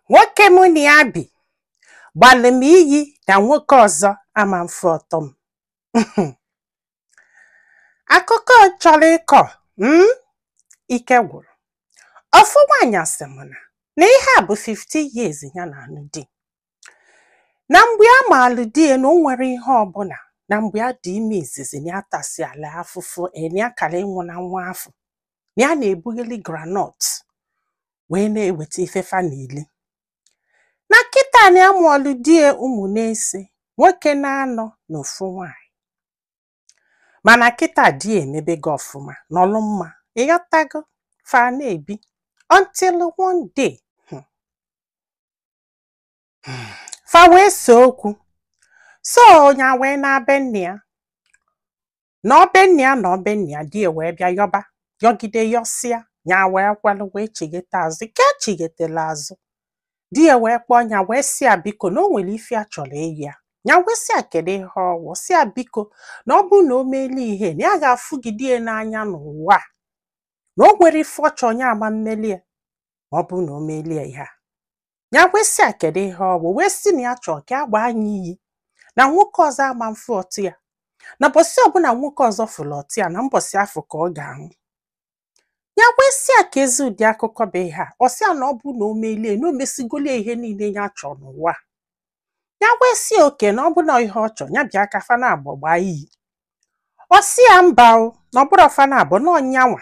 nwoke mụ na ya bi gbalị m iyi na nwoke ọzọ ama mfụ ọtụ m akụkọ chọrọ ịkọ m ike gwụrụ ofu nwaanyị sị m na na ihe a bụ 50 years ya na-anụ di na mgbe ya malụ di ya na o nwerọ ihe ọbụla na mgbe ya dị ime izizi na ya tasịala afụfụ nya akara ịnwụ na nwa afọ na ya na-ebugheli groundnut wee na-eweta ife fa na-eli na kịta na ya mụọlụ di ya ụmụ n'ise nwoke n'anọ na ofu nwanyị mana kịta di ya emebego ọfụma nọlụ mma ịghọtago fa na-ebi until one day hmm, hmm, fa wee see okwu so nya wee naa be nne ya nọọ be nne ya nọọ be nne ya di ya wee bịa yọba yọgide yọsịa ya wee kwelụ wee chighete azụ ka ya chighetela azụ di ya wee kpọọ ya wee sị ya biko na o nwere ife ya chọrọ ịyọ ya ya wee sị ya kedu ihe ọ wụ sị ya biko na ọ bụrụ na o meeli ya ihe na ya ga-afụgide ya n'anya n'ụwa a na o nwerọ ife ọ chọrọ ya ama mmeli ya ma ọ bụrụ na o meeli ya ihe a ya wee sị ya kedu ihe ọ bụ wee sị na ya chọrọ ka ya gbaa nya iyi na nwoke ọzọ ama mfụ ọtụ ya na mbọsị ọbụla nwoke ọzọ fụrụ ọtụ ya na mbọsị afụ ka ọ ga-anwụ ya wee sị ya keezi ụdị akụkọ bụ ihe a ọ sị ya na ọ bụ na o meeli ya na o mesigoli ya ihe niile ya chọrọ n'ụwa ya wee sị ya okay na ọ bụ na ihe ọ chọrọ ya bịa ka fa naabọ gbaa iyi ọ sị ya mba o na ọ bụrọ fa naabọ na ọ nya nwa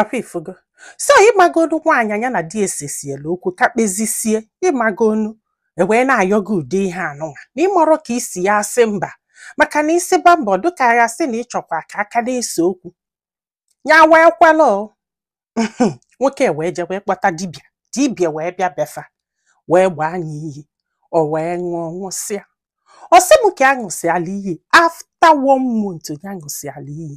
ọkwa ịfụgo so ịmagonu nwaanyị nya na di ya sesiela okwu ka kpezisie ịmagonu e wee na-ayọ gị ụdị ihe anụnwa na ị marọ ka ị si ya-asị mba maka na ị sịba mba ọ dịka a ya-asị na ị chọkwa ka a ka na-ese okwu ya wee kwelụ nwoke wee je wee kpọta dibịa dibịa wee bịa be fa wee gbaa nya iyi o wee ṅụọ ṅụsịa ọ sị m ka ya ṅụsịala iyi after one month ya ṅụsịala iyi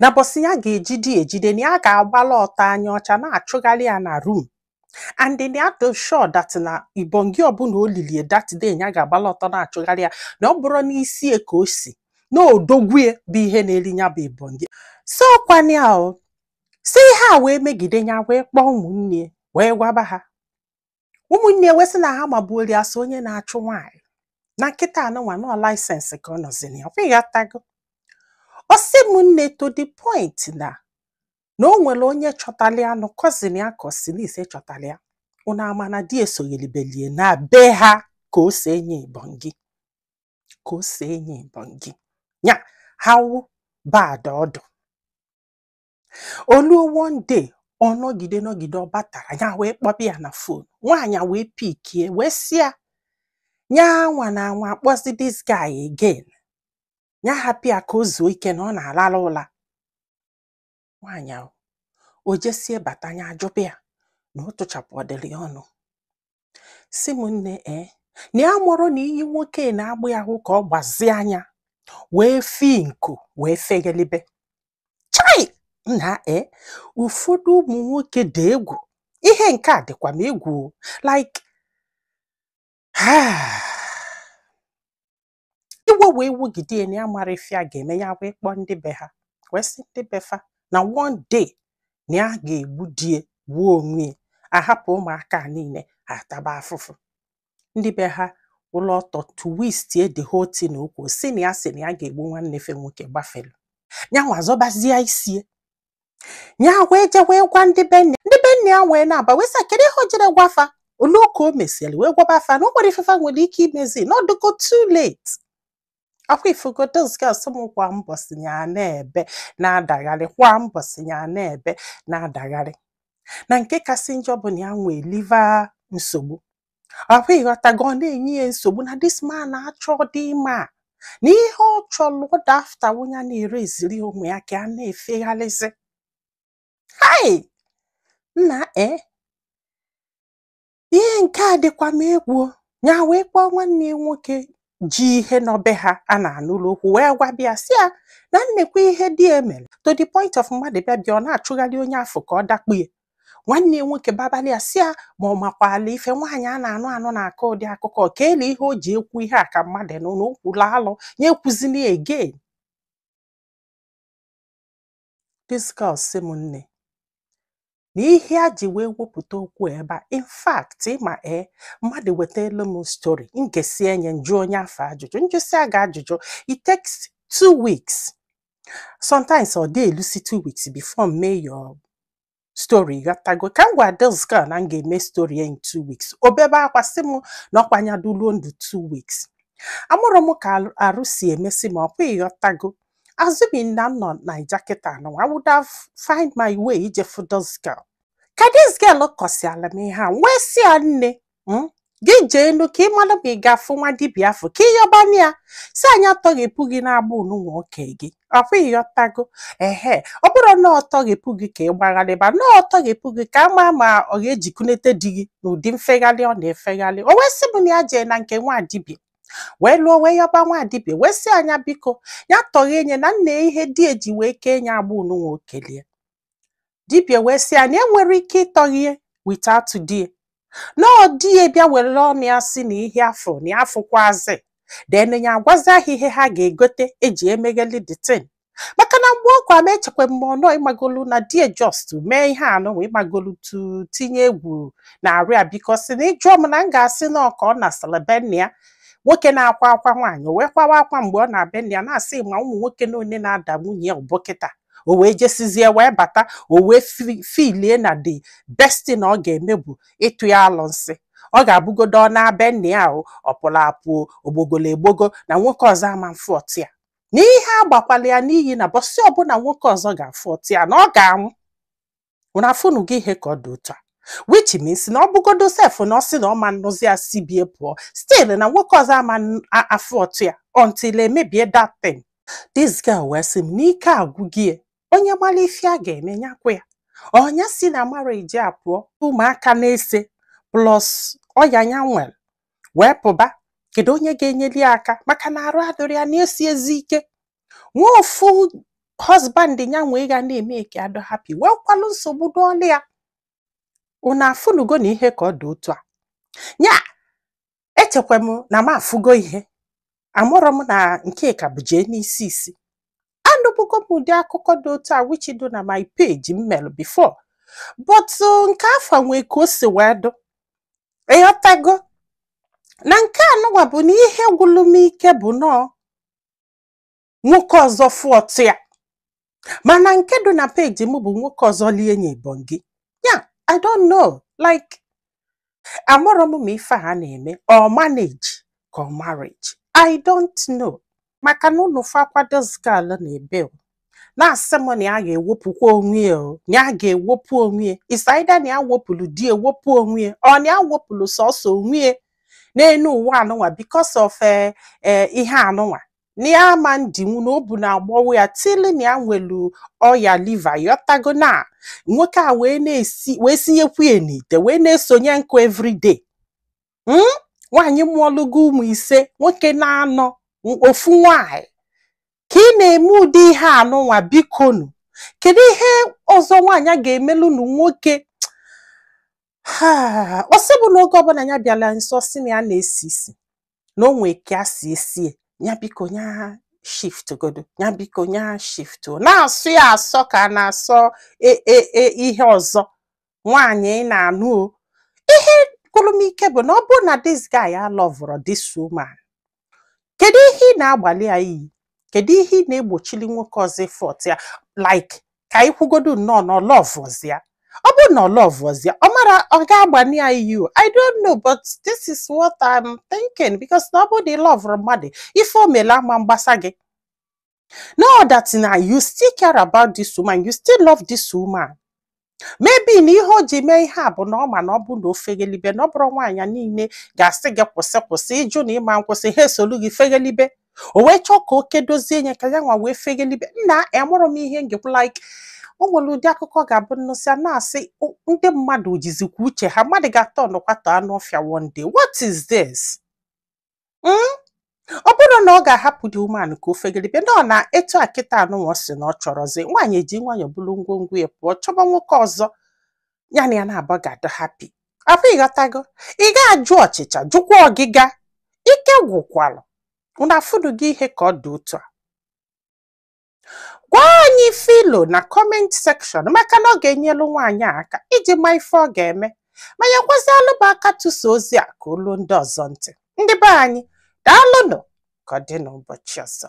na mbọsị ya ga-ejide ejide na ya ga-agbala ọtọ anya ọcha na-achụgharị ya na room and na ya too sure that na ibongi ọbụla o lili ya that day ya ga-agbala ọtọ na-achụgharị ya na ọ bụrụ n'isi ya ka o si na odogwu ya bụ ihe na-eri ya bụ ibongi so ọkwa nya ọ sị ihe a wee megide ya wee kpọọ ụmụnne ya wee gwaba ha ụmụnne ya wee sị na ha magbuori asị onye na-achụ nwaanyị na nkịta anụnwa nọ license ka ọ nọzi nya ịghọtago ọ sị m nne to the point na na o nwere onye chọtara ya na ọ cousin ya ka ọ sị n'ise chọtara ya ụnụ ama na di ya sogheribeli ya na be ha ka o si enye ibongi ka o si enye ibongi nya how bad ọ dụ oluo one day ọ nọgide nọgide ọ batarọ ya wee kpọba ya na fon nwaanyị a wee pikie wee sị ya ya anwana anwa akpọzi this guy again ya hapụ ya ka o zuo ike na ọ na-alarụ ụla nwaanyị ahụ o jesie bata ya ajụba ya na ọ tụchapụ ọdịrị ya ọnụ sị m nne ee na ya amarọ na iyi nwoke na-agba ahụ ka ọ gbazie anya wee fee nku wee feghalibe chai nna ee ụfọdụ ụmụ nwoke dị egwu ihe nke a dịkwa m egwu like iwe wee wugide ya na ya amarọ ife ya ga-eme ya wee kpọọ ndị be ha wee sị ndị be fa na one day na ya ga-egbu die gbuo onwe ya ahapụ ụmụaka a niile ha ataba afụfụ ndị be ha akwụlụ ọtọ twistie the whole thing okwu sị na ya sị na ya ga-egbu nwanne fa nwoke gbafelu ya nwa zọbazie isie ya wee je wee gwa ndị be nne ndị be nne ya wee na-aba wee sị ya, kedu ihe o jirọ gwa fa oluo ka o mesịrị wee gwaba fa na o nwerọ ife fa nwere ike imezi na ọ dịgo too late akwa ịfụgo this girl sị m kwa mbọsị ya na-ebe na-adagharị kwa mbọsị ya na-ebe na-adagharị na nke kasị njọ bụ na ya nwee liver nsogbu ahụ ịghọtago ọ na-enye ya nsogbu na this man achọdị ịma na ihe ọ chọrọ bụ that after onye nwereziri onwe ya ka a na-efegharịzi hai nna e ihe nke a dịkwa m egwu ya wee kpọọ nwanne ya nwoke ji ihe nọ be ha a na-anụrụ okwu wee gwaba ya sị ya na nekwa ihe di ya mere to the point of mmadụ bịa bịa ọ na-achụgharị onye afụ ka ọ dakpu ya nwanne ya nwoke babali ya sị ya ma ọ makwa na ife nwaanyị a na-anụ anụ na-akọ ụdị akụkọ ka ele ihe o ji ekwu ihe a ka mmadụ nụ na o kwulu alụ ya ekwuzina again this girl sị m nne na ihe a ji wee wepụta okwu ebe a in fact ịma ee mmadụ wetalu m story m gesie ya m jụọ onye afụ ajụjụ m jụsịa gị ajụjụ it takes two weeks sometimes ọ dị elusi two weeks before m mee your story ghọtago ka m gwa this girl na m ga-eme story ya in two weeks o bebe akwa sị m na ọkwa ya dịluo ndụ two weeks amarọ m ka arụ- arụ si emesi m ọkwa ịghọtago assuming na m nọ naija kịta anụ I would have find my way ije fụ this girl ka this girl kọsiala m ihe a m wee sị ya nne hmm? gị jee enu ka ị mara ma ị ga-afụ nwa dibịa afọ ka ị yọbana ya sị ya nya tọghepụ gị n'agbụ anụnwa o kee gị ọkwa ịyọtago ehe ọ bụrụ na ọ tọghepụ gị ka ị gbagharịba na ọ tọghepụ gị ka a ma ma ọ ga-ejikunete di gị n'ụdị mfegharị ọ na-efegharị o wee sị m na ya jee na nke nwa dibịa wee luo o wee yọba nwa dibịa wee sị ya nya biko ya tọghee nye na nna ya ihe di ya ji wee kee nye agbụ anụnwa o keli ya dibịa wee sị ya na enwero ike ịtọghe ya without di ya na ọ di ya bịa were ọnụ ya si na ihe afọ na ya afụkwazi then ya agwazia ha ihe ha ga-egote eji emegheli the thing maka na mgbe ọ gwara m echekwa m ọnụ ịmagolu na di ya just mee ihe anụnwa ịmagolu to tinye egwu n'arụ ya because na ị jụọ m na m ga-asị na ọ ka ọ nasịrị be nna ya nwoke na-akwa akwa nwaanyị o wee kwawa akwa mgbe ọ na be nna ya na-asị ma ụmụ nwoke na one na-ada nwunye ya ugbu kịta o wee jesizie wee bata o wee filie na the best thing na ọ ga-eme bụ ịtụ ya alụnsị ọ ga-abụgodo ọ naa be nne ya ahụ ọ pụrụ apụ o gbogolu egbogo na nwoke ọzọ ama mfụ ọtụ ya na ihe agbakwala ya n'iyi na bọsị ọbụla nwoke ọzọ ga-afụ ọtụ ya na ọ ga-anwụ unu afụnugo ihe ka ọ dị otu a which means na ọ bụgodo sef na ọ sị na ọ ma nnụzi ya si be ya pụọ still na nwoke ọzọ ama n- a- afụ ọtụ ya until emebie that thing this girl wee sị m na ike agwụgo ya, onye mara ife ya ga-eme nya gwa ya ọ nya si na marriage a pụọ ụmụaka na-ese plus ọya ya nwere wee pụba kedu onye ga-enyeli ya aka maka na arụ adịrọ ya na-esi ezi ike nwee ofu husband ya nwee ga na-eme ka ya dụ happy nwekwalụ nsogbu dụ ọlịa unu afụnugo na ihe ka ọ dị otu a ya echekwa m na m afụgo ihe amarọ m na nke ka bụ jee n'isi isi anụbụgo m ụdị akụkọ dị otu a which dị na my page m mere before but uh, nke afọ nwee ka o si wee dụ ịghọtago na nke anụnwa bụ na ihe gwụlụ m ike bụ nọọ nwoke ọzọ fụ ọtụ ya mana nke dị na peji m bụ nwoke ọzọ lie nye ibongi ya i don't know like amarọ m ma ife ha na-eme ọ manage ka ọ marriage i don't know maka na unu fụkwa this girl na-ebe na-asị m na ya ga-ewepụkwa onwe ya o na ya ga-ewepụ onwe ya is either na ya wepụrụ di ya wepụ onwe ya or na ya wepụrụ sọsọ onwe ya n'elu ụwa anụnwa because of eh, eh, ihe anụnwa na ya ama ndinwu na obu na-agbọwa ya still na ya nwelu ọya liver ịyọtago na nwoke a wee na-esi wee sinyekwu ya n'ite wee na-esonye nkụ everyday hmm? nwaanyị mụọlụgo ụmụ ise nwoke naanọ ofu nwaanyị ka ị na-eme ụdị ihe anụnwa bikonu kedu ihe ọzọ nwaanyị a ga-emelunu nwoke a ọ sị bụ na oge ọbụla ya bịala nso ọ sị na ya na-esi isi na o nwe ka a si esie ya biko ya shift godo ya biko ya shift na-asọ ya asọ ka a na-asọ e, e, e, ihe ọzọ nwaanyị ị na-anụ o ihe gwụrụ m ike bụ na ọ bụrụ na this guy alọvụrọ this woman kedu ihe ị na-agbalị ya iyi kedu ihe ị na-egbochili nwoke ọzọ ịfọta ya like ka anyị kwugodu nnọọ na ọ lọvụzi ya ọ bụrụ na ọ lọvụzi ya ọ mara ọ ga-agbalị ya iyi o i don't know but this is what i'm thinking because na ọ bụrụ na ị lọvụrọ mmadụ ife o mele ama mgbasa gị No doubt na you still care about this woman, you still love this woman. Maybe na ihe o ji mee ihe a bụ na ọ ma na ọ bụ na o feghelibe na ọ bụrụ nwaanyị niile ga-asị gị kwụsị kwụsị ị jụ na ị ma nkwụsị ha esolu gị feghelibe o wee chọọ ka o kedozie nye ka ya nwa wee feghelibe nna amarọ m ihe m ga-ekwu like o nwere ụdị akụkọ ga-abụ m nụsịa na-asị "O- ndị mmadụ jizikwa uche ha mmadụ ga-atọnụkwa to anụ ọfịa one day what is this hmm? ọ bụrụ na ọ ga-ahapụ this woman ka o feghelibe na ọ na etu a kịta anụnwa sị na ọ chọrọzi nwaanyị eji nwayọọ buru ngwongwo ya pụọ chọba nwoke ọzọ ya na ya naabọ ga-adị happy afọ ị ghọtago ị ga-ajụ ọchịcha jụkwa ọgịga ike gwụkwalụ unu afụnugo ihe ka ọ dị otu a gwa anyị ife i lo na comment section maka na ọ ga-enyelu nwaanyị a aka iji ma ife ọ ga-eme ma nyekwazịalụ m aka tụsa ozi a ka o lu ndị ọzọ ntị ndị be anyị daalụnụ ka ọ dị n'ụbọchị ọzọ